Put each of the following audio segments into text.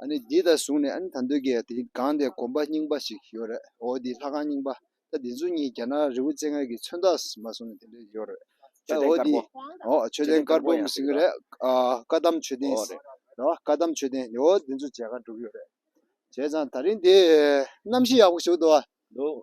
ཨ་ནི་འདི་ལྟར་བཟུང་ནས་ཨ་ནི་ད་འདོད་ཀྱི་དེ་སྒང་དེ་དགོན་པ་རྙིང་པ་ཞིག་ཡོད་རེད་འོ་དེའི་ལྷ་ཁང་རྙིང་པ་ད་དེ་ཚོ་གཉིས་རྒྱ་ནག་རི་བོ་རྩེ་ལྔའི་གི་མཚོན་རྟགས་མ་བཟུང་ནས་དེ་འདྲས་ཡོད་རེད་ད་འོ་དེ་འོ་མཆོད་རྟེན་དཀར་པོ་ཡང་ཟིན་གྱི་རེད་བཀའ་གདམས་མཆོད་རྟེན་ཟེར་རེད་བཀའ་གདམས་མཆོད་རྟེན་འོ་དེ་ཚོ་མཇལ་ཁ་བསྒྲུབས་ཡོད་རེད་བྱས་ཙང་ད་རིང་དེ་གནམ་གཤིས་ཡག་པོ་བྱུག་འདུག་འདུག།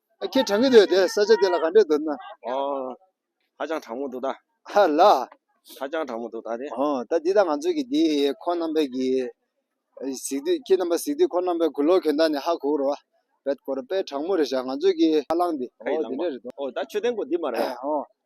ཁྱེད་དྲང་གི་འདུག་དེ་ས་ཆ་དེ་ལ་ག་འདྲས་འདུག་ན། ཨོ། ཧ་ཅང་དྲང་མོ་འདུག་ད། ཧ་ལ། ཧ་ཅང་དྲང་མོ་འདུག་ད་དེ། ཧོ་ད་འདི་ད་ང་ཚོ་གི་འདི་ཁོ་རྣམ་པའི་གི། གཟིགས་དུས་ཁྱེད་རྣམ་པ་གཟིགས་དུས་ཁོ་རྣམ་པའི་གུ་ལོག་གྱོན་ད་ནི་ཧ་གོ་རོ། བེད་གོ་རོ་དཔེ་དྲང་མོ་རེད་བཞག་ང་ཚོ་གི་ཧ་ལང་འདི། ཧོ་འདི་འདྲས་རེད་འདུག། ཨོ་ད་ཆོས་ལྡན་གོ་འདི་མ་རེད། ཨོ།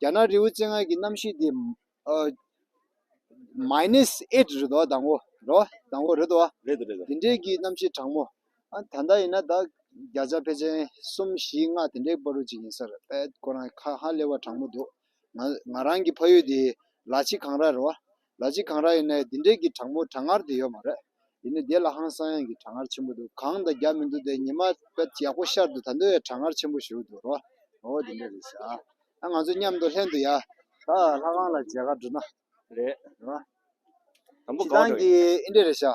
རྒྱ་ནག་རི་བོའི་རྩེ་ལྔ་གི་གནམ་གཤིས་འདི། Minus Eight རེད་དོ་དང་བོ་རོ་དང་བོ་རེད་དོ། རེད་དོ་རེད་དོ། དེ་འདྲའི་གི་གནམ་གཤིས་གྲང་མོ། ད་ལྟ་ཡིན་ན་ད་བརྒྱ་རྩ་བྷེ་ཆེན་གསུམ་བཞི་ལྔ་དེ་འདྲའི་པར་རོ་ཅིག་ཡིན་སར་ཨེ་ཁོ་རང་ཧ་ཧ་ལེ་བ་གྲང་མོ་འདུག་ང་རང་གི་ཕ་ཡུལ་འདི་ལ་ཆི་གངས་ར་རོ། ལ་སྤྱི་གང་རག་ཡིན་ན་འདི་འདྲས་ཀྱི་གྲང་མོ་གྲང་ངར་དེ་ཡོད་མ་རེད་ཡིན་ནའི་དེ་ལ་ཧང་སང་ཡང་གི་གྲང་ངར་ཆེན་པོ་འདུག་གང་དང་རྒྱག་མི་འདུག་དེ་ཉི་མ་དཔེར་ཡག་པོ་ཤར་འདུག་ད་འདི་བས་གྲང་ངར་ཆེན་པོ་ཞུགས་འདུག་རོ་ཨོ་དེ་འདྲས་རེད་ཟེར་ཨ་ང་ཚོ་མཉམ་དུ་ལྷན་དུ་ཡ། ད་ལྷ་ཁང་ལ་མཇལ་ཁ་བསྒྲུབ་ན། རེད། དང་པོ་གང་འགྲོ་ཡིན། ཁྱེད་རང་གིས་ཨིན་འདྲས་རེད་ཤག།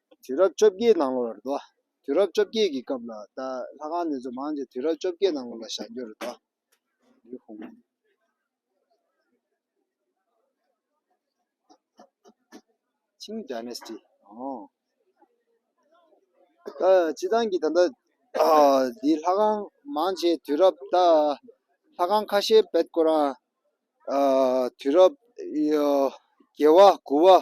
དུས་རབས་བཅོ་བརྒྱད་ནང་ལོར་རེད་དོ། དུས་རབས་བཅོ་བརྒྱད་ཀྱི་སྐབས་ལ་ད་ལྷ་ཁང་འདི་ཚོ་མང་ཆེ་དུས་རབས་བཅོ་བརྒྱད་ནང་ལོར་ལ་བཞག་རྒྱུ་རེད་དོ། ལི་ཧུང། Qing Dynasty། ཨོ། ད་སྤྱི་ཚང་གི་ད་ལྟ་འདི་ལྷ་ཁང་མང་ཆེ་དུས་རབས་ད་ལྷ་ཁང་ཁ་ཤས་བེད་སྐོར་རང། དུས་རབས། རྒྱལ་བ་དགུ་བ།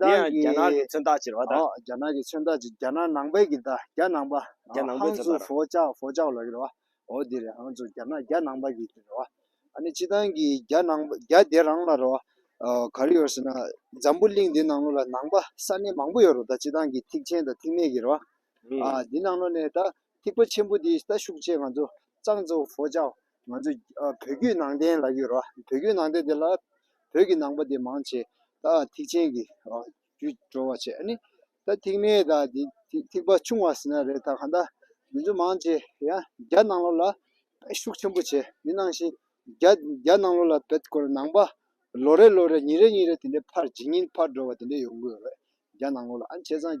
དེ་ཡང་རྒྱ་ནག་གི་མཚོན་རྟགས་ཅེས་པ་དང། རྒྱ་ནག་གི་མཚོན་རྟགས་ཀྱི་རྒྱ་ནག་ནང་པའི་གི་ད་རྒྱ་ནང་པ། རྒྱ་ནང་པའི་མཚོན་རྟགས། ཧང་ཆུའུ་ཧྥོ་ཅའོ་ཧྥོ་ཅའོ་ལ་ཡོད་རེད་བ། འོ་དེ་རེད་ཧང་ཆུའུ་རྒྱ་ནག་རྒྱ་ནང་པ་གི་དེ་རེད་བ། ཨ་ནི་སྤྱི་བཏང་གི་རྒྱ་ནང་པ་རྒྱ་དེ་རང་ལ་རེད་བ། ག་རེ་ཡོད་ཟེར་ན། འཛམ་བུ་གླིང་འདི་ནང་ལོ་ལ་ནང་པ་ས་གནས་མང་པོ་ཡོད་རེད་ད་སྤྱི་བཏང་གི་ཐིག་ཆེན་དང་ཐིག་ནད་གི་རེད་བ། འདི་ནང་ལོ་ནས་ད་ཐིག་པ་ཆེན་པོ་འདི་ད་ཤུགས་ཆེ་ང་ཚོ་ཙང་ཙོའུ་ཧྥོ་ཅའོ། ང་ཚོ་བོད་བརྒྱུད་ནང་བསྟན་ལ་ཡོད་རེད་བ། བོད་བརྒྱུད་ནང་བསྟན་དེ་ལ་བོད་ཀྱི་ནང་པ་དེ་མང་ཆེ་ད་ཐིག་ཆེན་གྱི་རྒྱུད་འགྲོ་བ་ཆེ་ནི། ད་ཐིག་མེ་ད་དེ་ཐིག་པ་ཆུང་བ་ཟེར་ན་རེད་ད་གང་ད་མི་ཚོ་མང་ཆེ་ཡ་རྒྱ་ནང་ལོག་ལ་བེད་ཤུགས་ཆེན་པོ་བྱེད་མི་ནང་བཞིན་རྒྱ་རྒྱ་ནང་ལོག་ལ་བེད་དཀོན་ནང་པ་ལོ་རེ་ལོ་རེ་ཉིན་རེ་ཉིན་རེ་དེ་འདྲའི་ཕར་ཇི་ཉིན་ཕར་འགྲོ་བ་དེ་འདྲའི་ཡོང་གི་ཡོད་རེད་རྒྱ་ནང་ལོག་ལ་ཨ་ནི་བྱས་ཙང།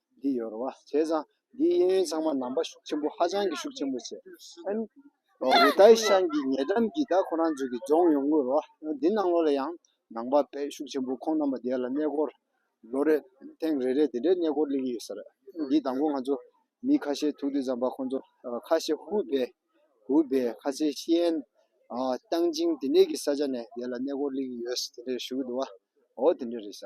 འདི་ཡོད་རེད་བ། བྱས་ཙང་འདིའི་གཡས་གཡོན་ཚང་མ་ནང་པ་ཤུགས་ཆེན་པོ་ཧ་ཅང་གི་ཤུགས་ཆེན་པོ་བྱས། ཨན། ཝུའུ་ཏའི་ཤང་གི་ཉེ་འགྲམ་གྱི་ད་ཁོ་རང་ཚོ་གི་རྫོང་ཡོང་དགོས་རེད་བ། འདི་ནང་ལོགས་ལ་ཡང་ནང་པ་པས་ཤུགས་ཆེན་པོ་ཁོང་རྣམ་པ་དེ་ལ་གནས་སྐོར་ལོ་རེ། ཐེངས་རེ་རེ་དེ་འདྲའི་གནས་སྐོར་གླེང་གི་ཡོད་ས་རེད། འདིའི་དང་པོ་ང་ཚོ་མི་ཁ་ཤས་ཐུག་དུས་ཙམ་པ་ཁོང་ཚོ་ཁ་ཤས་ཧུའུ་པེ། ཧུའུ་པེ། ཁ་ཤས་ཤིས་ཨན། ཏང་ཅིང་དེ་འདྲའི་གི་ས་ཆ་ནས་དེ་ལ་གནས་སྐོར་གླེང་གི་ཡོད་དེ་འདྲ་ཞུ་གི་འདུག་བ། འོ་དེ་འདྲ་རེད་ས།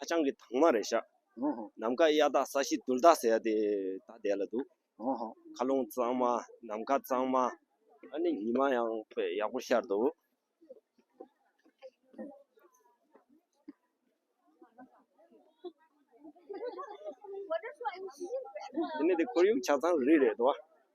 ཧ་ཅང་གི་དྭངས་མ་རེད་ཤག། ནམ་མཁའ་གཡའ་དག་ས་གཞི་དུལ་དག་ཟེར་ཡ་དེ་ད་བསྡད་ལ་འདུག། མཁའ་རླུང་གཙང་མ་ནམ་མཁའ་གཙང་མ། ཨ་ནི་ཉི་མ་ཡང་དཔེ་ཡག་པོ་ཤར་འདུག། དེ་ནི་དེ་ཁོར་ཡུག་ཆ་ཚང་རིགས་རེད་དོ།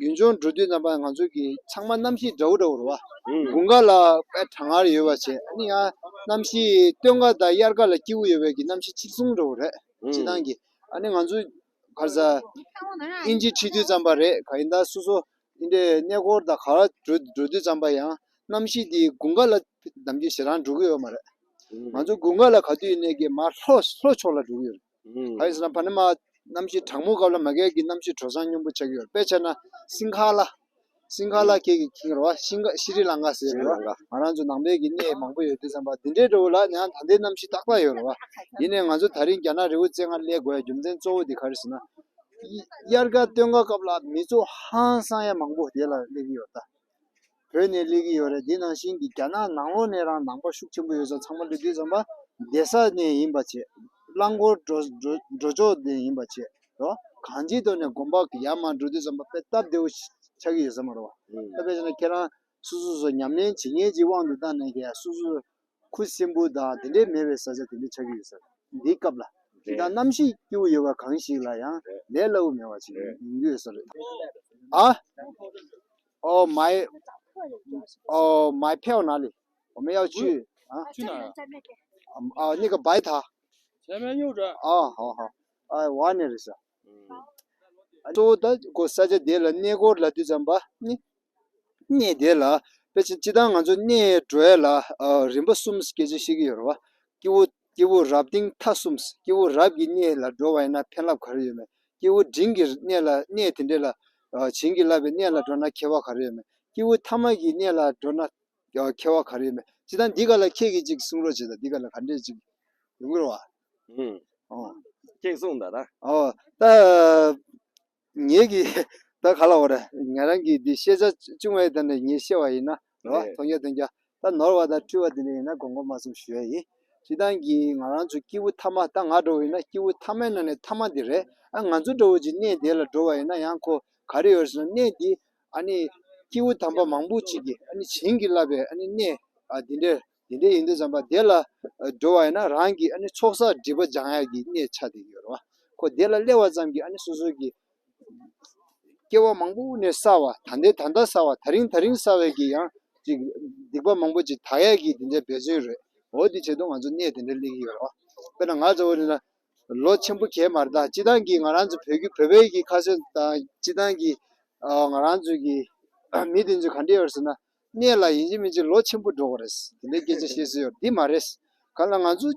ཡུན་ཅུང་འགྲོ་དུས་རྣམ་པ་ང་ཚོ་གི་ཚང་མ་གནམ་གཤིས་འདྲ་བོ་འདྲ་བོ་རེད་བ། དགུན་ཁ་ལ་དཔལ་གྲང་ངར་ཡོད་པ་བྱེད་ཡང་གནམ་གཤིས་སྟོན་ཁ་དང་དབྱར་ཁ་ལ་སྐྱིད་པོ་ཡོད་པའི་གི་གནམ་གཤིས་ཆིག་ཆུང་འདྲ་བོ་རེད་ཕྱི་ནང་གི། ཨ་ནི་ང་ཚོ་གར་ས་ཨིན་ཇི་ཁྲི་དུས་ཙམ་པ་རེད་ག་ཡིན་ད་སོ་སོ་འདི་འདྲའི་གནས་སྐོར་དང་ག་ར་འགྲོ་འགྲོ་དུས་ཙམ་པ་ཡང་གནམ་གཤིས་འདི་དགུན་ཁ་ལ་གདམ་གྱི་ཞེ་སྡང་འགྲོ་གི་ཡོད་མ་རེད། ང་ཚོ་དགུན་ཁ་ལ་ག་དུས་ནས་གི་མར་ལྷོ་ལྷོ་ཕྱོགས་ལ་འགྲོ་གི་ཡོད་རེད། ཨཱ་ཡེས་ན་བྷ་ནི་མ། རྣམ་ཤེས་དྲག་མོ་གབ་ལ་མ་གས་ཀྱི་རྣམ་ཤེས་གྲོལ་སངས་སྙིང་པོ་ཆགས་ཀྱི་ཡོད་དཔེ་ཆ་ན་སིང་གྷ་ལ། སིང་གྷ་ལ་ཁྱེད་ཀྱིས་ཁེངས་ར་བ་ཤིང་ཀ་ཤི་རི་ལང་ག་ཟེར་ར་བ་ང་རང་ཚོ་ནང་པའི་གི་གནས་མང་པོ་ཡོད་དུས་བསམ་པ་འདི་འདྲའི་འགྲོ་བ་ལ་ནི་ཧང་ད་འདའི་རྣམ་ཤེས་ཏག་ཏག་ཡོད་ར་བ་ཡིན་ནའི་ང་ཚོ་ད་རིང་རྒྱ་ནག་རི་བོ་རྩེ་ལྔར་སླེབས་དགོས་ཡ་རྒྱུ་མཚན་གཙོ་བོ་འདི་ག་རེ་ཟེར་ན། དབྱར་ཀ་སྟོན་ཀ་སྐབས་ལ་མི་ཚོ་ཧང་སངས་ཡ་མང་པོ་དེ་ལ་སླེབས་ཀྱི་ཡོད་ད། བོད་ནས་སླེབས་ཀྱི་ཡོད་རེད་དེ་ནང་བཞིན་གྱི་རྒྱ་ནག་ནང་ལོགས་ནས་རང་ནང་པ་ཤུགས་ཆེན་པོ་ཡོད་ས་ཚང་མ་འདི་དུས་ཚང་མ་སྡེ་ས་ནས་ཡིན་པ་བྱེད། རླངས་འཁོར་འགྲོ་འགྲོ་ཕྱོགས་ནས་ཡིན་པ་བྱེད་རོ། གང་ཅིའི་ཐོག་ནས་དགོན་པ་ཡར་མར་འགྲོ་དུས་ཚང་མ་དཔེ་སྟབས་བདེ་བོ་ཆགས་ཀྱི་ཡོད་ས་མ་རེད་བ། དཔེ་བྱས་ན་ཁྱེད་རང་སོ་སོ་སོ་ཉམས་ལེན་བྱེད་མཁན་གྱི་དབང་དུ་བཏང་ནས་ཀྱང་སོ་སོ། ཁུ་སིམ་པོ་དང་དེ་འདྲའི་མེད་པའི་བཟའ་བཅའ་དེ་འདྲ་ཆགས་ཀྱི་ཡོད་སྲིད། འདིའི་སྐབས་ལ། དེ་དག་རྣམ་ཤེས་སྐྱེ་བོ་ཡོད་པ་གང་ཞིག་ལ་ཡང་ལས་སླ་བོ་མེད་པ་ཞིག་ཡིན་རྒྱུ་ཡོད་ས་རེད། ཨ། ཨོ་མའི། ཨོ་མའི་ཕེའོ་ན་ལི། ཨོ་མའི་ཨའོ་ཆུ། ཨ། ཨ་ནི་ག་བའི་ཐ། ཨ་ཧོ་ཧོ། ཨའི་ཝ་ནི་རེད་ས། གཙོ་བོ་དང་གོ་ས་ཆ་འདི་ལ་གནས་སྐོར་ལ་དུས་ཙམ་པ་ནི་གནས་བདེ་ལ་དཔེ་ཆ་སྤྱི་དང་ང་ཚོ་གནས་བགྲོད་ལ་རིམ་པ་གསུམ་སྐད་ཆ་བཤད་ཀྱི་ཡོད་རེད་བ། སྐྱེ་བོ་སྐྱེ་བོ་རབ་སྟེང་མཐའ་གསུམ་སྐྱེ་བོ་རབ་ཀྱི་གནས་ལ་འགྲོ་བ་ཡིན་ན་ཕན་རླབས་ག་རེ་ཡོད་མེད་སྐྱེ་བོ་འབྲིང་གི་གནས་ལ་གནས་དེ་འདྲ་ལ་བྱིན་གྱིས་བརླབས་པའི་གནས་ལ་འགྲོ་ན་ཁྱད་བ་ག་རེ་ཡོད་མེད་སྐྱེ་བོ་ཐ་མ་གི་གནས་ལ་འགྲོ་ན་ཁྱད་བ་ག་རེ་ཡོད་མེད་ཅི་ད་འདི་ག་ལ་ཁྱེད་ཀྱིས་ཅིག་གསུངས་རོགས་བྱས་ད་འདི་ག་ལ་ག་འདྲས་ཅིག་ཡོང་གི་རེད་བ། ཅེས་གསུངས་ད་ར། ད་ངེད་ཀྱིས་ད་ག་ལ་འོ་རེད། ང་རང་གིས་འདི་ཤེས་བྱ་ཅུང་ཨེ་ད་ནས་ངེད་ཤེས་བ་ཡིན་ན་རེད་བ། དོན་གྱ་དོན་གྱ་ད་ནོར་བ་ད་འཁྲུལ་བ་དེ་འདྲ་ཡིན་ན་དགོངས་པ་མ་གསུངས་ཞུ་ཡ་ཡིན། ཞེ་སྡང་གིས་ང་རང་ཚོ་སྐྱེས་བུ་ཐ་མ་ད་ང་འགྲོ་བ་ཡིན་ན་སྐྱེས་བུ་ཐ་མའི་ནང་ནས་ཐ་མ་འདི་རེད་ཨ་ང་ཚོ་འདྲ་བོ་ཅིག་གནས་དེ་ལ་འགྲོ་བ་ཡིན་ན་ཡང་ཁོ་ག་རེ་ཡོད་ཟེར་ན་གནས་འདི་ཨ་ནི་སྐྱེས་བུ་དམ་པ་མང་པོ་ཅིག་གིས་ཨ་ནི་བྱིན་གྱིས་བརླབས་པའི་ཨ་ནི་གནས་འདི་འདྲའི། དེ་འདྲ་ཡིན་དུས་བྱམས་པ་བདེ་ལ་འགྲོ་བ་ཡིན་ན་རང་གི་ཨ་ནི་ཚོགས་བསགས་སྒྲིབ་པ་སྦྱང་ཡ་གི་གནས་ཆ་དེ་ཡོད་རེད་བ། ཁོ་བདེ་ལ་སླེ་བ་ཙམ་གྱིས་ཨ་ནི་སོ་སོ་གི་སྐྱེ་བ་མང་པོ་དབུས་ནས་བསགས་བ་ད་ལྟའི་ད་ལྟ་བསགས་བ་ད་རིང་ད་རིང་བསགས་བའི་གི་ཡང་ཅིག་སྡིག་པ་མང་པོ་ཅིག་དག་ཡ་གི་དེ་འདྲའི་འབད་བརྩོན་རེད་འོ་དེ་བྱེད་དུ་ང་ཚོ་གནས་དེ་འདྲ་སླེ་གི་ཡོད་རེད་བ། དཔེར་ན་ང་ཚོ་འོ་ན་ལོ་ཆེན་པོ་གས་མ་རེད་ད་སྤྱི་བཏང་གི་ང་རང་ཚོ་བོད་ཀྱི་བོད་པའི་གི་ཁ་སོས་དང་སྤྱི་བཏང་གི་ང་རང་ཚོ་གི་མི་དེ་ཚོ་ག་འདྲ་ཡོད་རེད་ཟེར་ན། གནས་ལ་ཡིན་གཅིག་མིན་གཅིག་ལོ་ཆེན་པོ་འགྲོ་བ་རེད། དེ་འདྲའི་སྐད་ཆ་བཤད་སྲོལ་ཡོད་འདི་མ་རེད། གང་ལ་ང་ཚོ།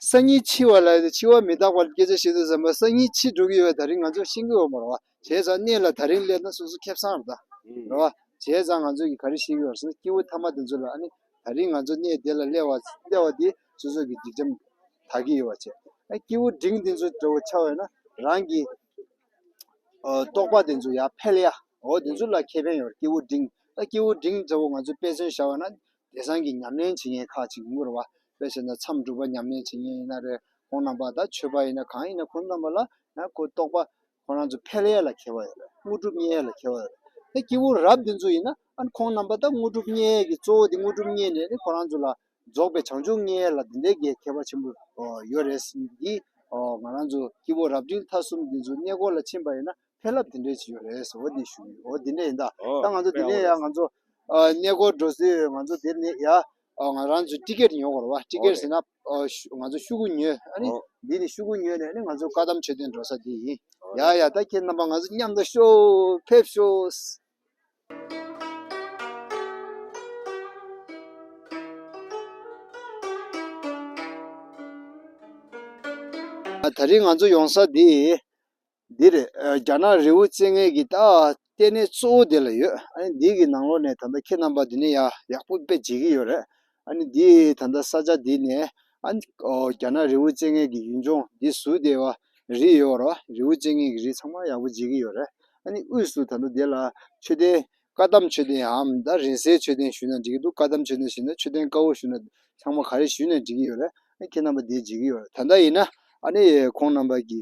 སང་ཉིན་འཆི་བ་ལ་འཆི་བ་མི་རྟག་པར་སྐད་ཆ་བཤད་དུས་ཟམ་པ་སང་ཉིན་འཆི་འགྲོ་གི་ཡོད་པ་ད་རིང་ང་ཚོ་ཤེས་ཀྱི་ཡོད་མ་རེད། བྱས་ཙང་གནས་ལ་ད་རིང་སླེབས་ན་སོ་སོ་ཁེབས་སང་རེད། རེད་བ། བྱས་ཙང་ང་ཚོ་གི་ག་རེ་ཤེས་ཀྱི་ཡོད་སོང་སྐྱེ་བོ་ཐ་མ་དེ་ཚོ་ལ་ཨ་ནི་ད་རིང་ང་ཚོ་གནས་དེ་ལ་སླེབས་བ་སླེབས་བ་དེ་སོ་སོ་གི་སྒྲིག་ཁྲིམས་དག་གི་ཡོད་བ་བྱས། ཨ་སྐྱེ་བོ་འབྲིང་དེ་ཚོ་འདྲ་བོ་ཆགས་ཡོད་ན་རང་གི། རྟོག་པ་དེ་ཚོ་ཡར་འཕེལ་ཡ། འོ་དེ་ཚོ་ལ་ཁེ་ཕན་ཡོད་རེད་སྐྱེ་བོ་འབྲིང། ད་སྐྱེ་བོ་འབྲིང་ཚོ་ང་ཚོས་དཔེ་མཚོན་བྱ་བ་ན། དེ་སང་གི་ཉམས་ལེན་བྱེད་མཁན་ཁག་ཅིག་ངུ་རུ་བ། དཔེ་བྱས་ན་མཚམས་སྒྲུབ་པ་ཉམས་ལེན་བྱེད་མཁན་ཡིན་ན་རེད་ཁོང་རྣམས་པ་དང་ཆོས་པ་ཡིན་ན་གང་ཡིན་ན་ཁོང་རྣམས་པ་ལ་ཁོ་རྟོག་པ་ཁོང་རང་ཚོ་འཕེལ་ཡ་ལ་ཁེལ་བ་ཡོད་རེད་དངོས་གྲུབ་བརྙེས་ཡ་ལ་ཁེལ་བ་ཡོད་རེད། ད་སྐྱེ་བོ་རབ་དེ་ཚོ་ཡིན་ན་ཁོང་རྣམས་པ་ད་དངོས་གྲུབ་བརྙེས་ཀྱི་གཙོ་བོ་དེ་དངོས་གྲུབ་བརྙེས་ནས་ཁོང་རང་ཚོ་ལ་རྫོགས་པའི་བྱང་ཆུབ་ལྔའི་ལ་དེ་འདྲའི་རྒྱའི་ཁྱད་པར་ཆེན་པོ་ཡོད་རེད་ཟེར་ནས་འདིས་ང་རང་ཚོ་སྐྱེ་བོ་རབ་འབྲིང་ཐ་གསུམ་འདི་ཚོ་གནས་སྐོར་ལ་ཕྱིན་པ་ཡིན་ན་ཕན་རླབས་དེ་འདྲའི་ཅིག་ཡོད་རེད་ཟེར་བ་འདི་ཞུ་ཡིན་འོ་དེ་འདྲ་ཡིན་ད་ད་ང་ཚོ་འདི་ནས་ཡང་ང་ཚོ་གནས་སྐོར་འགྲོ་ཚེ་ཡང་ང་ཚོ་དེར་ནས་ཡང་ང་རང་ཚོས་ཏི་ཀེར་ཉོ་དགོས་རེད་བ་ཏི་ཀེར་ཟེར་ན་ང་ཚོ་ཤུ་གུ་ཉོས་ཨ་ནི་འདི་ནས་ཤུ་གུ་ཉོས་ནས་ནི་ང་ཚོ་བཀའ་གདམས་ཆོས་སྡེ་འགྲོ་ས་འདི་ཡིན་ཡ་ཡ་ད་ཁྱེད་རྣམ་པ་ང་ཚོ་མཉམ་དུ་ཤོག་ཕེབས་ཤོག། ད་རིང་ང་ཚོ་ཡོང་ས་དེ་འདི་རེད་རྒྱ་ནག་རི་བོ་རྩེ་ལྔའི་གི་ད་ལྟེ་གནས་གཙོ་བོ་དེ་ལ་ཡོད་ཨ་ནི་འདི་གི་ནང་ལོགས་ནས་ད་ལྟ་ཁྱེད་རྣམ་པ་འདི་ནས་ཡག་པོ་དཔེ་བྱེད་ཀྱི་ཡོད་རེད་ཨ་ནི་འདི་ད་ལྟ་ས་ཆ་འདི་ནས་ཨ་ནི་རྒྱ་ནག་རི་བོ་ཅན་ངན་གྱི་ཡུལ་ལྗོངས་འདི་བཟུ་དེ་བ་རི་ཡོད་རོ་རི་བོ་ཅན་ངན་གྱི་རི་ཚང་མ་ཡག་པོ་བརྗེ་གི་ཡོད་རེད་ཨ་ནི་དབུས་སུ་ད་ལྟ་འདི་ལ་མཆོད་རྟེན་བཀའ་གདམས་མཆོད་རྟེན་འམ་ད་རིན་སའི་མཆོད་རྟེན་བཞུ་ན་འགྲིག་གི་འདུག་བཀའ་གདམས་མཆོད་རྟེན་བཞུ་ན་མཆོད་རྟེན་དཀར་བོ་བཞུ་ན་ཚང་མ་ག་རེ་བཞུ་ནས་འགྲིག་གི་ཡོད་རེད་ཨ་ནི་ཁྱེད་རྣམ་པ་འདི་བརྗེ་གི་ཡོད་རེད་ད་ལྟ་ཡིན་ན་ཨ་ནི་ཁོང་རྣམ་པ་གྱི་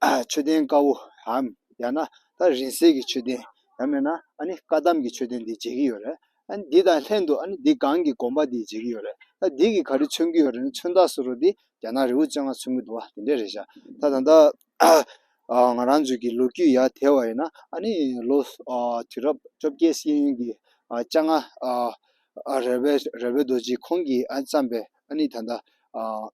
མཆོད་རྟེན་དཀར་བོའམ་ཡང་ན་ད་རིང་བསྲེལ་གྱི་མཆོད་རྟེན་ཡང་མེད་ན་ཨཱ་ནི་བཀའ་གདམས་ཀྱི་མཆོད་རྟེན་འདི་མཇལ་གྱི་ཡོད་རེད། ཨཱ་ནི་འདི་དང་ལྷན་དུ་ཨཱ་ནི་འདི་སྒང་གི་དགོན་པ་འདི་མཇལ་གྱི་ཡོད་རེད། ད་འདི་གིས་ག་རེ་མཚོན་གྱི་ཡོད་རེད་ན་མཚོན་རྟགས་སུ་རུ་འདི་རྒྱ་ནག་རི་བོ་བཅོ་ལྔ་མཚོན་གྱི་འདུག་བ་དེ་འདྲས་རེད་ཤག་ད་ད་ལྟ་ང་རང་ཚོའི་གི་ལོ་རྒྱུས་ཡར་དལ་བ་ཡིན་ན་ཨཱ་ནི་ལོ་དུས་རབས་བཅོ་བརྒྱད་སྲིད་ཡུན་གྱི་བཅྭ་ལྔ་རལ་བའི་རལ་བའི་རྡོ་རྗེ་ཁོང་གིས་བརྩམས་པའི་ཨཱ་ནི་ད་ད།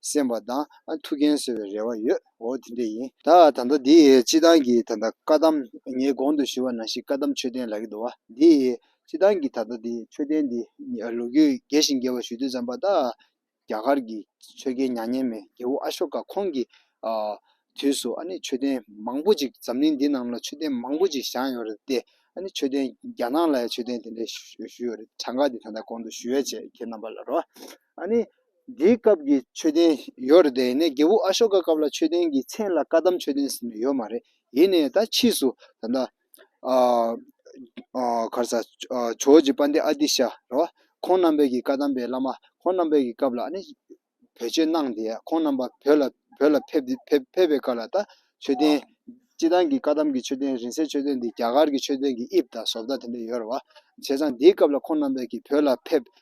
སེམས་པ་དང་ཐུགས་འགན་གསོ་བའི་རེ་བ་ཡོད་འོ་དེ་འདྲས་ཡིན། ད་ད་ལྟ་འདི་སྤྱི་བཏང་གི་ད་ད་བཀའ་གདམ་ངའི་གོང་དུ་ཞུ་བ་ནང་བཞིན་བཀའ་གདམ་མཆོད་རྟེན་ལག་གི་དུ་བ་འདི་སྤྱི་བཏང་གི་ད་ད་འདི་མཆོད་རྟེན་འདི་ལོ་རྒྱུས་རྒྱས་ཤིང་རྒྱས་པ་ཞུ་དུས་ཙམ་པ་ད་རྒྱ་གར་གྱི་ཆོས་རྒྱལ་མྱ་ངན་མེད་རྒྱལ་བོ་ཨ་ཤོ་ཀ་ཁོང་གི་དུས་སུ་ཨ་ནི་མཆོད་རྟེན་མང་པོ་ཅིག་འཛམ་གླིང་འདི་རྣམས་ལ་མཆོད་རྟེན་མང་པོ་ཅིག་བཞག་ཡོད་རེད་དེ་ཨ་ནི་མཆོད་རྟེན་རྒྱ་ནག་ལ་ཡང་མཆོད་རྟེན་དེ་འདྲས་ཞུ་ཡོད་རེད་གྲངས་ཀ་འདི་ད་ད་གོང་དུ་ཞུ་བའི་ཆེད་ཁྱེད་རྣམ་པ་ལ་རོགས། ཨ་ནི། དེའི་སྐབས་ཀྱི་མཆོད་རྟེན་ཡོད་རེད་དེ་ནས་རྒྱལ་བུ་ཨ་ཤོ་ཀ་སྐབས་ལ་མཆོད་རྟེན་གྱི་མཚན་ལ་བཀའ་གདམས་མཆོད་རྟེན་ཟེར་ནི་ཡོད་མ་རེད་ཡིན་ནས་ད་ཕྱིས་སུ་ད་ལྟ། གར་ས། ཇོ་བོ་རྗེ་པཎ་ཏི་ཨ་ཏི་ཤ་ར་བ། ཁོང་རྣམ་པས་ཀྱི་བཀའ་གདམས་པའི་བླ་མ་ཁོང་རྣམ་པས་ཀྱི་སྐབས་ལ་ཨ་ནི། བེད་སྤྱོད་གནང་སྟེ་ཁོང་རྣམ་པ་བོད་ལ་བོད་ལ་ཕེབས་ཕེབས་ཕེབས་པའི་སྐབས་ལ་ད་མཆོད་རྟེན། སྤྱི་བཏང་གི་བཀའ་གདམས་ཀྱི་མཆོད་རྟེན་རིང་སྲེལ་མཆོད་རྟེན་འདི་རྒྱ་གར་གྱི་མཆོད་རྟེན་གྱི་དབྱིབས་དང་བཟོ་ལྟ་དེ་འདྲ་ཡོད་རེད་བ། བྱས་ཙང་དེའི་སྐབས་ལ་ཁོང་རྣམ་པས་ཀྱི་བོད་ལ་ཕེབས་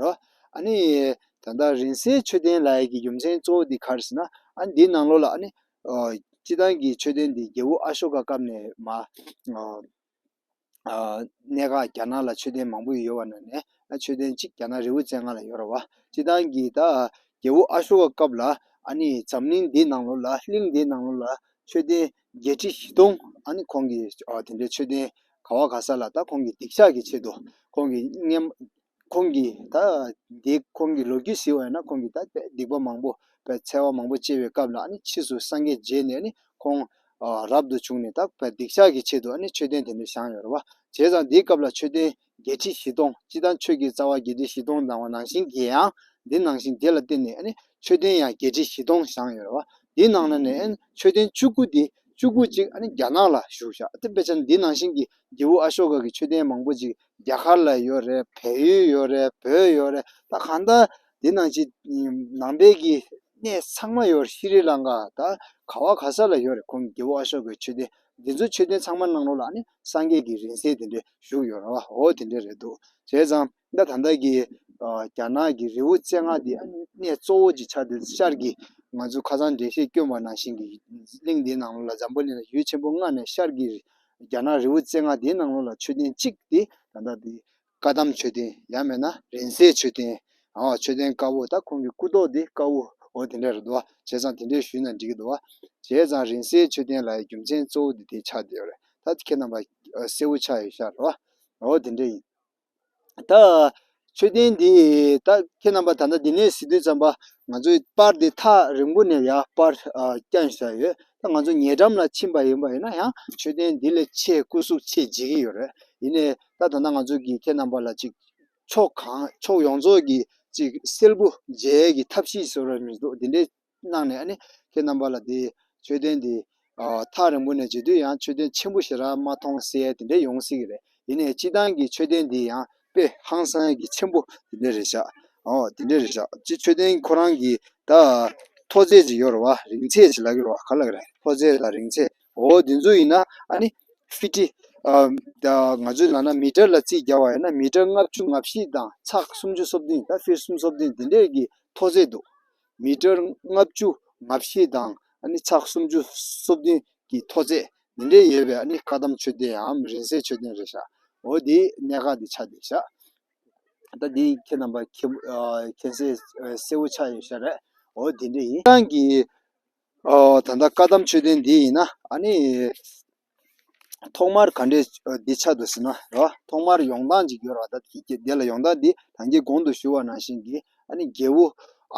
རོ། ཨ་ནི། ད་ལྟ་རིང་བསྲེལ་མཆོད་རྟེན་ལ་ཡི་གི་རྒྱུ་མཚན་གཙོ་བོ་འདི་གར་ཟེར་ན། ཨ་ནི་འདིའི་ནང་ལོགས་ལ་ཨ་ནི། སྤྱི་བཏང་གི་མཆོད་རྟེན་འདི་རྒྱལ་བོ་ཨ་ཤོ་ཀ་སྐབས་ནས་མ། གནད་འགག་རྒྱ་ནག་ལ་མཆོད་རྟེན་མང་པོ་ཡོད་བ་ན་ནས་མཆོད་རྟེན་གཅིག་རྒྱ་ནག་རི་བོ་བཙན་སྔ་ལ་ཡོད་ར་བ། སྤྱི་བཏང་གི་ད། རྒྱལ་བོ་ཨ་ཤོ་ཀ་སྐབས་ལ་ཨ་ནི་འཛམ་གླིང་འདིའི་ནང་ལོགས་ལ་གླིང་འདིའི་ནང་ལོགས་ལ་མཆོད་རྟེན་བརྒྱད་ཁྲི་བཞི་སྟོང་ཨ་ནི་ཁོང་གི་དེ་འདྲའི་མཆོད་རྟེན་ག་བ་ག་ས་ལ་ད་ཁོང་གི་སྡིག་བཤགས་ཀྱི་ཆེད་དུ་ཁོང་གི་སྙེ། ཁོང་གིས་ད་ལྟའི་ཁོང་གི་ལོ་རྒྱུས་ཟིན་བ་ན་ཁོང་གིས་ད་ལྟའི་སྡིག་པ་མང་པོ་འཚལ་བ་མང་པོ་སྤྱད་པའི་སྐབས་ལ་ཕྱིས་སུ་སངས་རྒྱས་རྗེས་ནས་ནི་ཁོང་རབ་ཏུ་བྱུང་ནས་ད་སྡིག་བཤགས་ཀྱི་ཆེད་དུ་མཆོད་རྟེན་དེ་འདྲ་བཞེངས་ཡོད་རེད་བ། བྱས་ཙང་དེའི་སྐབས་ལ་མཆོད་རྟེན་བརྒྱད་ཁྲི་བཞི་སྟོང་སྤྱི་དང་ཆོས་ཀྱི་རྩ་བ་བརྒྱད་ཁྲི་བཞི་སྟོང་བརྫངས་བ་ནང་བཞིན་གྱི་ཡང་འདི་ནང་བཞིན་དེ་ལ་བརྟེན་ནས་ནི་མཆོད་རྟེན་ཡང་བརྒྱད་ཁྲི་བཞི་སྟོང་བཞེངས་ཡོད་རེད་བ། དེའི་ནང་ན་ནི་མཆོད་རྟེན་བཅུ་དགུ་སྟེ་བཅུ་དགུ་གཅིག་རྒྱ་ནག་ལ་བཞུགས་ཤག་དེ་དཔེ་ཆ་ནི་འདི་ནང་བཞིན་གྱི་རྒྱལ་བུ་ཨ་ཤོ་ཀ་གི་མཆོད་རྟེན་མང་པོ་ཅིག་རྒྱ་གར་ལ་ཡོད་རེད་བལ་ཡུལ་ཡོད་རེད་བོད་ཡོད་རེད་ད་གང་ལྟར་འདི་ནང་ཆེ་ནང་པའི་གི་གནས་ཚང་མ་ཡོད་རེད་ཤི་རི་ལང་ཀ་ད་ག་བ་ག་ས་ལ་ཡོད་རེད་ཁོང་གི་རྒྱལ་པོ་ཨ་ཤོ་ཀའི་ཆོས་སྡེ་འདི་ཚོ་ཆོས་སྡེ་ཚང་མ་གནང་རོགས་ལ་ནི་སངས་རྒྱས་ཀྱི་རིང་བསྲེལ་དེ་འདྲས་བཞུགས་ཡོད་རེད་བ་འོ་དེ་འདྲས་རེད་འདུག་བྱས་ཙང་ད་ད་ལྟ་གི་རྒྱ་ནག་གི་རི་བོ་རྩེ་ལྔ་དེ་ཨ་ནི་གནས་གཙོ་བོ་ཅིག་ཆགས་འདུག་ཤར་གི་ང་ཚོ་ཁ་སང་འགྲེལ་བཤད་བསྐྱོན་པ་ནང་བཞིན་གི་གླིང་འདི་ནང་ལོ་ལ་འཛམ་བུ་གླིང་ལ་ཡུལ་ཆེན་པོ་ལྔ་ནས་ཤར་གི་རྒྱ་ནག་རི་བོའི་རྩེ་ལྔ་དེའི་ནང་ལོགས་ལ་མཆོད་རྟེན་གཅིག་དེ་ད་ལྟ་དེ། བཀའ་གདམས་མཆོད་རྟེན་ཡང་མེད་ན་རིན་སྲེག་མཆོད་རྟེན། མཆོད་རྟེན་དཀར་བོ་ད་ཁོང་གི་སྐུ་ཐོག་དེ་དཀར་བོ་འོ་དེ་འདྲ་རེད་འདུག་བྱས་ཙང་དེ་འདྲས་ཞུས་ན་འགྲིག་གི་འདུག་བྱས་ཙང་རིན་སྲེག་མཆོད་རྟེན་ལ་ཡི་རྒྱུ་མཚན་གཙོ་བོ་དེ་དེ་ཆགས་བསྡད་ཡོད་རེད་ད་ཁྱེད་རྣམ་པ་གསལ་བོ་ཆགས་ཡོད་ཤག་འོ་དེ་འདྲས་ཡིན། ད་མཆོད་རྟེན་འདི་ད་ཁྱེད་རྣམ་པ་ད་ལྟ་འདི་ནས་ཟིན་དུས་ཙམ་པ་ང་ཚོའི་པར་འདི་ཐག་རིང་པོ་ནས་ཡ་པར་བསྐྱངས་བཞག་ཡོད་ད་ང་ཚོ་ཉེ་འགྲམ་ལ་ཕྱིན་པ་ཡིན་པ་ཡིན་ན་ཡང་མཆོད་རྟེན་འདི་ལས་ཆེས་སྐུ་གཟུགས་ཆེས་བརྗིད་ཀྱི་ཡོད་རེད་ཡིན་ནའི་ད་ད་ནངས་ཚོས་ཀྱིས་ཁྱེད་རྣམ་པ་ལ་ཅིག་ཕྱོགས་གང་ཕྱོགས་ཡོངས་རྫོགས་ཀྱི་ཅིག་སིལ་བུ་འཇལ་གྱི་ཐབས་ཤེས་ཟེར་བ་མི་འདུག་འདི་འདྲའི་གནང་ནས་ནི་ཁྱེད་རྣམ་པ་ལ་དེ་མཆོད་རྟེན་འདི། ཐག་རིང་པོ་ནས་མཇལ་དུས་ཡང་མཆོད་རྟེན་ཆེན་པོ་ཞིག་ར་མ་མཐོང་གསལ་དེ་འདྲས་ཡོང་སྲིད་ཀྱི་རེད་དེ་ནས་སྤྱི་བཏང་གི་མཆོད་རྟེན་འདི་ཡང་དཔེ་ཧང་སང་གི་ཆེན་པོ་དེ་འདྲས་རེད་ཤག་འོ་དེ་འདྲས་རེད་ཤག་སྤྱི་མཆོད་རྟེན་ཁོ་རང་གི་ད་མཐོ་ཚད་ཅིག་ཡོད་རེད་བ་རིང་ཚད་ཅིག་ལག་གི་རེད་བ་ག་ལ་རེད་མཐོ་ཚད་དང་རིང་ཚད་འོ་དེ་ཚོ་ཡིན་ན་ནི་ཧྥི་ཏི། ང་ཚོའི་ནང་ན་མི་ཀྲ་ལ་རྩིས་བརྒྱ་བ་ཡོད་ན་མི་ཀྲ་ལྔ་བཅུ་ང་བཞི་དང་ཚགས་སུམ་ཅུ་སོ་བདུན་ད་ཧྥི་སུམ་སོ་བདུན་དེ་འདྲས་ཀྱི་མཐོ་ཚད་འདུག་མི་གྲངས་ལྔ་བཅུ་ང་བཞི་དང་ཕྱག་སུམ་ཅུ་སོ་བདུན་གྱི་མཐོ་ཚད་འདི་འདྲའི་ཡོད་པའི་བཀའ་གདམས་མཆོད་རྟེནའམ་རིང་བསྲེལ་མཆོད་རྟེན་རེ་བཞག་འོ་དེ་གནད་འགག་འདི་ཆགས་འདི་བཞག་ད་འདི་ཁྱེད་རྣམ་པ་མཁྱེན་གསལ་བོ་ཆགས་ཡོད་ཤག་རེད་འོ་དེ་འདྲ་ཡིན། ཁྱེད་རང་གིས་ད་ལྟ་བཀའ་གདམས་མཆོད་རྟེན་འདི་ཡིན་ན། ཐོག་མར་ག་འདྲའི་འདི་ཆ་དུ་ཟིན་ན་རེ་བ་ཐོག་མར་ཡོང་སྟངས་ཅིག་ཡོད་ར་བ་ད་ཁྱེད་ཀྱིས་དེ་ལ་ཡོང་སྟངས་འདི་གང་གི་གོང་དུ་ཞུ་བ་ནང་བཞིན་གྱི་ཨ་ནི་རྒྱལ་བོ་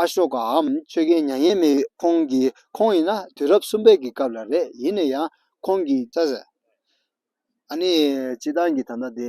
ཨ་ཤོ་ཀའམ་ཆོས་རྒྱལ་མྱ་ངན་མེད་ཁོང་གི་ཁོང་ཡིན་ན་དུས་རབས་གསུམ་པའི་གི་སྐབས་ལ་རེད་ཡིན་ན་ཡང་ཁོང་གི་ཅག་ཟེར་ཨ་ནི་སྤྱི་བཏང་གི་ད་ལྟ་དེ།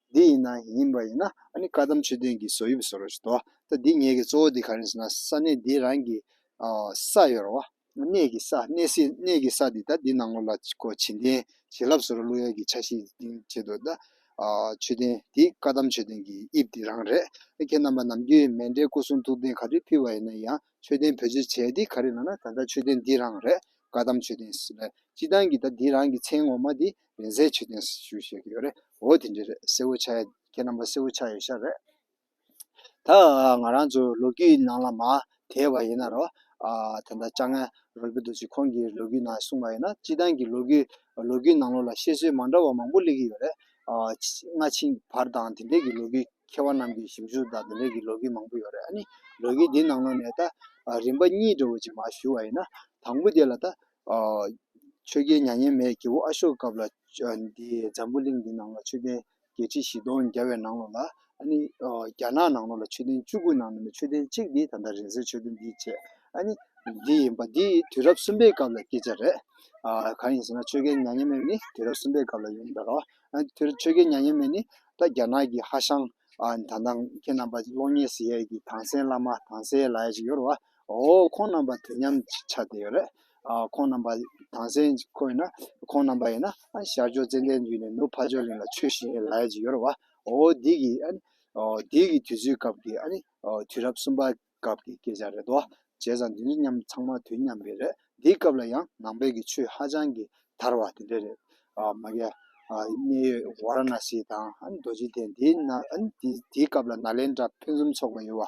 འདི་ཡིན་ན་ཡིན་པ་ཡིན་ན་བཀའ་གདམས་ཆོས་བསྟན་གྱི་བཟོ་དབྱིབས་བཟོ་རོ་ཞེས་དོ། ད་འདི་ངེད་ཀྱི་གཙོ་བོ་འདི་ག་རེ་ཟེར་ན་ས་གནས་འདི་རང་གི་ས་ཡོར་བ། གནས་ཀྱི་ས་གནས་སྲིད་གནས་ཀྱི་ས་འདི་ད་འདི་ནང་ངོ་ལ་ཁོ་བྱིན་རྟེན་བྱིན་རླབས་བཟོ་རོ་གླུ་དབྱངས་ཀྱི་ཆ་ཞིག་ལྡིང་བྱེད་དོ། ད་ཆོས་བསྟན་འདི་བཀའ་གདམས་ཆོས་བསྟན་གྱི་དབྱིབས་འདི་རང་རེད། ཁྱེད་རྣམ་པ་ནམ་རྒྱུན་མེ་འདྲའི་སྐུ་གསུང་ཐུགས་རྟེན་ག་དུས་ཕུལ་བ་ཡིན་ན་ཡང་ཆོས་བསྟན་བེད་སྤྱོད་བྱས་འདི་ག་རེ་ལབ་ན་ད་ད་ཆོས་བསྟན་འདི་རང་རེད་བཀའ་གདམས་ཆོས་བསྟན་སྤྱི་བཏང་གི་ད་འདི་རང་གི་མཚན་ངོ་མ་འདི་བེན་ཟའི་ཆུ་ལྡན་ཞུ་བཞེས་ཀྱི་ཡོད་རེད་འོ་དེ་འདྲའི་རེད་སེ་བོ་ཆ་ཁྱེད་རྣམ་པ་སེ་བོ་ཆ་ཡོད་ཤག་རེད་ད་ང་རང་ཚོ་ལོ་རྒྱུས་ནང་ལ་མ་དེད་པ་ཡིན་ན་རོ་དེ་འདྲ་ཅང་ང་རོ་གི་འདུག་ཅིག་ཁོང་གི་ལོ་རྒྱུས་ནང་གསུངས་པ་ཡིན་ན་སྤྱི་བཏང་གི་ལོ་རྒྱུས་ལོ་རྒྱུས་ནང་ལོ་ལ་བཤད་སྲོལ་མ་འདྲ་བ་མང་པོ་གླེགས་ཀྱི་ཡོད་རེད་སྔ་ཕྱིན་བར་དང་དེ་འདྲའི་གི་ལོ་རྒྱུས་མཁས་བ་རྣམས་ཀྱི་ཞིབ་འཇུག་དང་དེ་འདྲའི་གི་ལོ་རྒྱུས་མང་པོ་ཡོད་རེད་ཨ་ནི་ལོ་རྒྱུས་འདི་ནང་ལོ་ནས་ད་རིམ་པ་གཉིས་འདྲ་བོ་ཅིག་མ་ཞུ་བ་ཡིན་ན་དང་པོ་དེ་ལ་ད་ཆོས་རྒྱལ་མྱ་ངན་མེད་རྒྱལ་བོ་ཨ་ཤོ་ཀ་སྐབས་ལ་འདིའི་འཛམ་བུ་གླིང་འདི་ནང་ལ་ཆོས་ལྡན་བརྒྱད་ཁྲི་བཞི་སྟོང་བརྒལ་བའི་ནང་ལོ་ལ་ཨ་ནི་རྒྱ་ནག་ནང་ལོ་ལ་ཆོས་ལྡན་བཅུ་དགུ་ནང་ནས་ཆོས་ལྡན་གཅིག་འདི་ད་ལྟ་རིང་བསྲེལ་ཆོས་ལྡན་འདི་བཅས་ཨ་ནི་འདི་ཡིན་པ་འདི་དུས་རབས་གསུམ་པའི་སྐབས་ལ་སྐད་ཆ་རེད། གང་ཡིན་ཟེར་ན་ཆོས་རྒྱལ་མྱ་ངན་མེད་ནི་དུས་རབས་གསུམ་པའི་སྐབས་ལ་ཡོང་གི་རེད་རོ། དེ་ཆོས་རྒྱལ་མྱ་ངན་མེད་ནི་ད་རྒྱ་ནག་གི་ཧ་ཤང་ད་ནང་ཁྱེད་རྣམ་པ་གློག་བརྙན་ཟེར་ཡས་ཀྱི་དྭངས་གསལ་བླ་མ་དྭངས་གསལ་ལ་ཡ་ཞིག་ཡོད་རེད་བ། འོ་ཁོང་རྣམ་པ་དེ་མཉམ་ཅིག་ཆ་དེ་ཡོད་རེད། ཁོང་རྣམ་པ་དང་སེན་ཁོ་ཡིན་ན། ཁོང་རྣམ་པ་ཡིན་ན། ཤར་ཕྱོགས་ཙན་དན་རྒྱུད་ནས་ནུབ་བྷ་ཇོ་ལིན་ལ་ཆོས་ཤིག་ཡིན་ལ་ཡ་ཅིག་ཡོད་རེད་བ། འོ་འདི་གི། འདི་གི་དུས་ཚོད་སྐབས་ཀྱི། དུས་རབས་གསུམ་པ་སྐབས་ཀྱི་སྐད་ཆ་རེད་བ། བྱས་ཙང་འདི་ནི་མཉམ་ཚང་མ་དུས་མཉམ་པའི་རེད། འདི་སྐབས་ལ་ཡང་ནང་པའི་གི་ཆོས་ཧ་ཅང་གི་དར་བ་དེ་འདྲ་རེད། མ་གལ། གནད་ཡོད་བྷ་ར་ན་སི་དང་རྡོ་རྗེ་གདན་འདི་ན། འདི་སྐབས་ལ་ནཱ་ལེནྡྲ་ཕུན་སུམ་ཚོགས་པ་ཡོད་བ།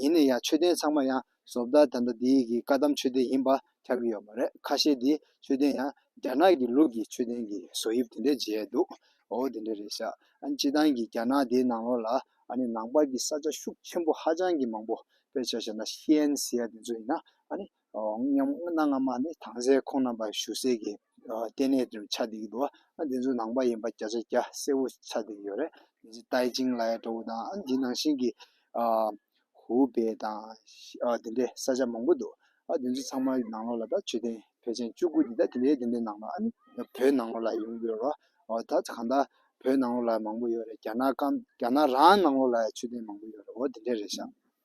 ཡིན་ན་ཡང་མཆོད་རྟེན་ཚང་མ་ཡང་བཟོ་བདག་དེ་འདྲ་དེའི་གི་བཀའ་གདམས་མཆོད་རྟེན་ཡིན་པ་ཁྱབ་ཀྱི་ཡོད་མ་རེད་ཁ་ཤས་དེའི་མཆོད་རྟེན་ཡང་རྒྱ་ནག་གི་ལུགས་ཀྱི་མཆོད་རྟེན་གི་བཟོ་དབྱིབས་དེ་འདྲས་མཇལ་འདུག་འོ་དེ་འདྲས་རེད་ཤག་སྤྱི་སྟངས་ཀྱི་རྒྱ་ནག་དེའི་ནང་ལོགས་ལ་ཨ་ནི་ནང་པར་གི་ས་ཆ་ཤུགས་ཆེན་པོ་ཧ་ཅང་གི་མང་པོ་དཔེར་བྱ་བྱས་ན་ཤིས་ཨན་སི་ཡ་དེ་ཚོ་ཡིན་ན་ཨ་ནི། མཉམ་སྣང་སྔ་མ་ནི་དྭངས་གསལ་ཁོང་རྣམ་པ་ཞུ་གསལ་གྱི་ལྟེ་གནས་ཀྱི་ཆ་དེ་ཡིན་འདུག་འདི་ཚོ་ནང་པ་ཡིན་པ་བརྒྱ་ཆ་བརྒྱ་གསལ་བོ་ཆ་དེ་ཡོད་རེད། ཏའེ་ཅིང་ལའེ་ཀྲོའུ་དང་འདི་ནང་བཞིན་གྱི་ཧུའུ་པེ་དང་དེ་འདྲའི་ས་ཆ་མང་པོ་འདུག་འདི་ཚོ་ཚང་མ་ནང་ལོགས་ལ་ད་ཆོས་ཐེངས་ཕལ་ཆེན་བཅུ་དགུ་འདི་ད་དེ་འདྲའི་དེ་འདྲའི་ནང་ལོགས་ཨ་ནི་བོད་ནང་ལོགས་ལ་ཡོང་གི་ཡོད་རོ། ད་གང་ལྟར་བོད་ནང་ལོགས་ལ་མང་པོ་ཡོད་རེད་རྒྱ་ནག་རང་ནང་ལོགས་ལ་ཡང་ཆོས་ཐེངས་མང་པོ་ཡོད་རེད་འོ་དེ་འདྲའི་རེད་ཤག།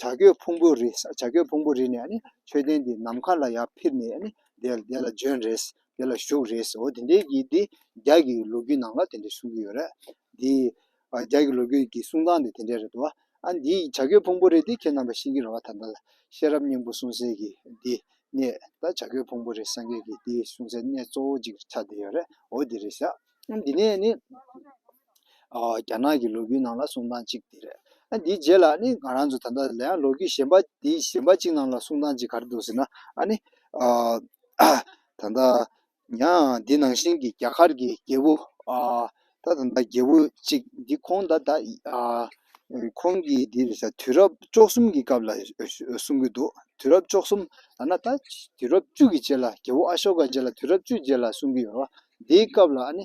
བྱ་རྒོད་ཕུང་པོ་རི་བྱ་རྒོད་ཕུང་པོ་རི་ནས་མཆོད་རྟེན་འདི་ནམ་མཁའ་ལ་ཡར་འཕུར་ནས་དེ་ལ་བྱོན་རེད་དེ་ལ་བཞུགས་རེད་འོ་དེ་འདྲའི་གྱི་འདི་རྒྱ་གྱི་ལོ་རྒྱུས་ནང་ལ་དེ་འདྲ་གསུང་གི་ཡོད་རེད་དེ། རྒྱ་གྱི་ལོ་རྒྱུས་ཀྱི་གསུང་སྟངས་འདི་དེ་འདྲ་རེད་དོ། ཨ་འདི་བྱ་རྒོད་ཕུང་པོ་རི་འདི་ཁྱེད་རྣམ་པ་ཤེས་ཀྱི་རེད་བ་ད་ལྟ་ལ་ཤེས་རབ་སྙིང་པོ་གསུང་གསལ་གྱི་འདི་ནས་ད་བྱ་རྒོད་ཕུང་པོ་རི་སངས་རྒྱས་ཀྱི་འདི་གསུང་གསལ་གནད་གཙོ་བོ་གཅིག་ཆགས་འདི་ཡོད་རེད་འོ་འདི་རེད་ཤག་འོ་འདི་ནས་ནི། རྒྱ་ནག་གི་ལོ་རྒྱུས་ནང་ལ་གསུང་སྟངས་གཅིག་དེ་རེད། དེའི་རྗེས་ལ་ནི་ང་རང་ཚོ་ད་ལྟ་ལའང་ལོ་རྒྱུས་གཞན་པ་དེའི་གཞན་པ་གཅིག་ནང་ལ་གསུང་སྟངས་གཅིག་ག་རེ་འདུག་ཟེར་ན། ད་ལྟ་ཡང་འདི་ནང་བཞིན་གྱི་རྒྱ་གར་གྱི་རྒྱལ་པོ། ད་ད་རྒྱལ་པོ་གཅིག་འདི་ཁོང་ད་ད་ཁོང་གི་འདི་རེད་ས་དུས་རབས་བཅོ་གསུམ་གྱི་སྐབས་ལ་གསུང་གི་འདུག་དུས་རབས་བཅོ་གསུམ་ཐ་ན་ད་དུས་རབས་བཅུ་གྱི་རྗེས་ལ་རྒྱལ་པོ་ཨ་ཤོ་ཀ་རྗེས་ལ་དུས་རབས་བཅུ་རྗེས་ལ་གསུང་གི་ཡོད་པ། འདིའི་སྐབས་ལ་ནི་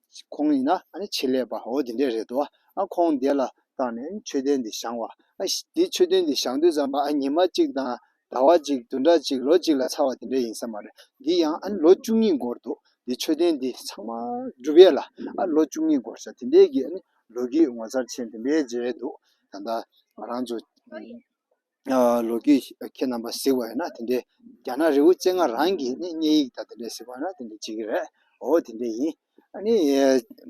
ཁོང་ཡིན་ན་ཆེད་ལས་པ་འོ་དེ་འདྲས་རེད་འདུག་ཨ་ཁོང་འདས་ལ་བཏང་ནས་མཆོད་རྟེན་འདི་བཞེངས་བ། དེ་མཆོད་རྟེན་འདི་བཞེངས་དུས་ཙམ་ཨ་ཉི་མ་གཅིག་དང་ཟླ་བ་གཅིག་དུ་འདྲ་གཅིག་ལོ་གཅིག་ལ་ཚར་བ་དེ་འདྲས་ཡིན་ས་མ་རེད་འདི་ཡང་ཨ་ལོ་བཅུ་གཉིས་འགོར་འདུག་འདི་མཆོད་རྟེན་འདི་ཚང་མ་གྲུབ་ཡས་ལ་ཨ་ལོ་བཅུ་གཉིས་འགོར་ས་དེ་འདྲས་ཀྱི་ཨ་ནི་ལོ་རྒྱུས་ངོ་མཚར་ཆེན་དེ་འདྲས་མཇལ་འདུག་ད་ལྟ་ང་རང་ཚོ། ལོ་རྒྱུས་ཁྱེད་རྣམ་པ་གཟིགས་པ་ཡིན་ན་དེ་འདྲའི་རྒྱ་ནག་རི་བོ་ཅན་ང་རང་གིས་ནི་བསྙད་ཡིག་དང་དེ་འདྲ་གཟིགས་པ་ཡིན་ན་དེ་འདྲ་བྱེད་ཀྱི་རེད་འོ་དེ་འདྲ་ཡིན་ཨ་ནི་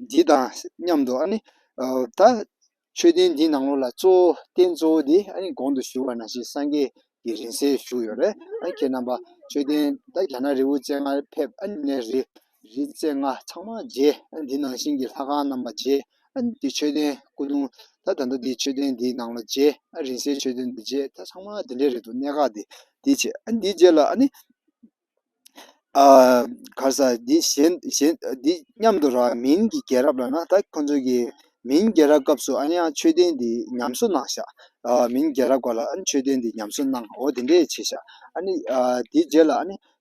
འདི་དང་མཉམ་དུ་ཨ་ནི་ད་མཆོད་རྟེན་འདི་ནང་ལོགས་ལ་གཙོ་བོ་རྟེན་གཙོ་བོ་དེ་ཨ་ནི་གོང་དུ་བཞུགས་པ་ནང་བཞིན་སངས་རྒྱས་ཀྱི་རིང་བསྲེལ་བཞུགས་ཡོད་རེད་ཨ་ཁྱེད་རྣམ་པ་མཆོད་རྟེན་ད་རྒྱ་ནག་རི་བོ་ཅན་ང་ཕེབས་ཨ་ནི་རི་རིག་རྩལ་ལྔ་ཚང་མ་རྗེ། འདི་ནང་བཞིན་གྱི་ལྷ་ཁང་རྣམས་པ་རྗེ། འདི་མཆོད་རྟེན་སྐུ་གདུང་དང་ད་ལྟ་འདི་མཆོད་རྟེན་འདིའི་ནང་ལ་རྗེ། རིང་བསྲེལ་མཆོད་རྟེན་འདི་རྗེ་ད་ཚང་མ་འདི་འདྲའི་རེད་འདུག་གནད་འགག་འདི་འདི་བྱས། འདི་རྗེ་ལ་ནི། གར་ས་འདི་གཞན་གཞན་འདི་སྙམ་དུ་ར་མིན་གྱི་རྒྱལ་རབས་ལ་ན་ད་ཁོ་ཚོ་གི་མིན་རྒྱལ་རབས་སྐབས་སུ་ཨ་ཡང་མཆོད་རྟེན་འདི་ཉམས་གསོ་གནང་ཤག་མིན་རྒྱལ་རབས་སྐབས་ལ་མཆོད་རྟེན་འདི་ཉམས་གསོ་གནང་འོ་དེ་འདྲས་བྱས་ཤག་འདི་རྗེ་ལ་ནི།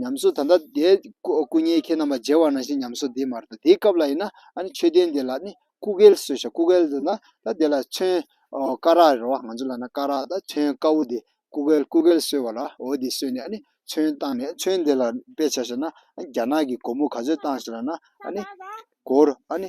ཉམས་སུ་ད་ལྟ་དེ་སྐུ་ཉལ་ཁྱེད་རྣམས་ལ་མཇལ་བ་ན་ཞེས་ཉམས་སུ་དེས་མ་རེད་དོ་དེའི་སྐབས་ལ་ཡིན་ན་ཨ་ནི་མཆོད་རྟེན་དེ་ལ་ནི་སྐུ་སྐལ་གསོལ་བྱ་སྐུ་སྐལ་དུ་ན་ད་དེ་ལ་མཚོན། སྐ་རགས་རེད་བ་ང་ཚོ་ལ་ན་སྐ་རགས་ད་མཚོན་དཀར་བོ་དེ་སྐུ་སྐལ་སྐུ་སྐལ་གསོལ་བ་ལ་འོ་དེ་གསོལ་ནས་ཨ་ནི་མཚོན་བཏང་ནས་མཚོན་དེ་ལ་དཔེ་བྱ་ཞེ་ན་ཨ་ནི་རྒྱ་ནག་གི་སྒོར་མོ་ག་ཚོད་བཏང་ཞེ་ན་ཨ་ནི་སྒོར་ཨ་ནི་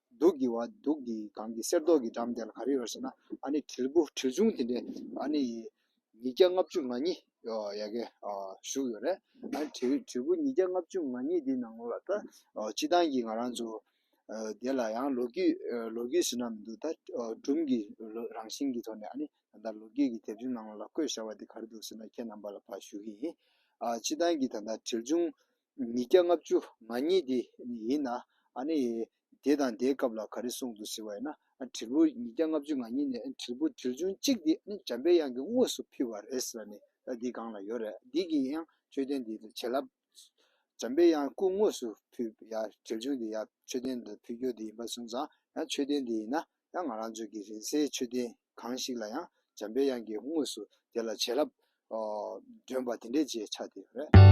སྡུག་གི་བ་སྡུག་གི་གངས་ཀྱི་གསེར་མདོག་གི་འགྲམ་དེ་ལ་ག་རེ་ཡོད་ཟེར་ན་ཨཱ་ནི་དྲིལ་བུ་དྲིལ་ཆུང་དེ་འདྲའི་ཨཱ་ནི་ཉིས་བརྒྱ་ལྔ་བཅུ་ང་གཉིས་ཡག་གེ་བཞུགས་ཡོད་རེད་ཨཱ་ནི་དྲིལ་དྲིལ་བུ་ཉིས་བརྒྱ་ལྔ་བཅུ་ང་གཉིས་དེའི་ནང་ལ་ད་སྤྱི་བཏང་གི་ང་རང་ཚོ་དེ་ལ་ཡང་ལོ་རྒྱུས་ལོ་རྒྱུས་ཟེར་ན་མི་འདུག་ད་སྒྲུང་གི་རང་བཞིན་གྱི་ཐོག་ནས་ཨཱ་ནི་ད་ལྟ་ལོ་རྒྱུས་ཀྱི་དེབ་ཆུང་ནང་ལ་བཀོད་བཞག་པ་དེ་ག་རེ་འདུག་ཟེར་ན་ཁྱེད་རྣམ་པ་ལ་ཕར་ཞུ་གི་ཡིན་ཨཱ་སྤྱི་བཏང་གི་ད་ལྟ་དྲིལ་ཆུང་ཉིས་བརྒྱ་ལྔ་བཅུ་ང་གཉིས་དེ་ཡིན་ན་ཨ་ནི་དེ་དང་དེའི་སྐབས་ལ་ག་རེ་གསུངས་འདུག་ཟེར་བ་ཡིན་ན་དྲིལ་བུ་ཉིས་བརྒྱ་ལྔ་བཅུ་ང་གཉིས་ནས་དྲིལ་བུ་དྲིལ་ཆུང་གཅིག་དེ་ནི་འཇམ་དཔལ་དབྱངས་ཀྱི་དངོས་སུ་ཕུལ་བ་རེད་ཟེར་བ་ནི་འདི་གང་ལ་ཡོད་རེད་འདི་གིས་ཡང་མཆོད་རྟེན་འདི་ལ་བྱིན་རླབས་འཇམ་དཔལ་དབྱངས་སྐུ་དངོས་སུ་ཕུལ་བ་ཡང་དྲིལ་ཆུང་དེ་ཡང་མཆོད་རྟེན་འདི་ལ་ཕུལ་རྒྱུ་དེ་ཡིན་པ་གསུངས་ཙང་ཡང་མཆོད་རྟེན་འདི་ཡིན་ན་ཡང་ང་རང་ཚོའི་གི་རིང་བསྲེལ་མཆོད་རྟེན་གང་ཞིག་ལ་ཡང་འཇམ་དཔལ་དབྱངས་ཀྱི་དངོས་སུ་དེ་ལ་བྱིན་རླབས་སྒྲོན་པ་དེ་འདྲའི་བརྗེད་ཆགས་དེ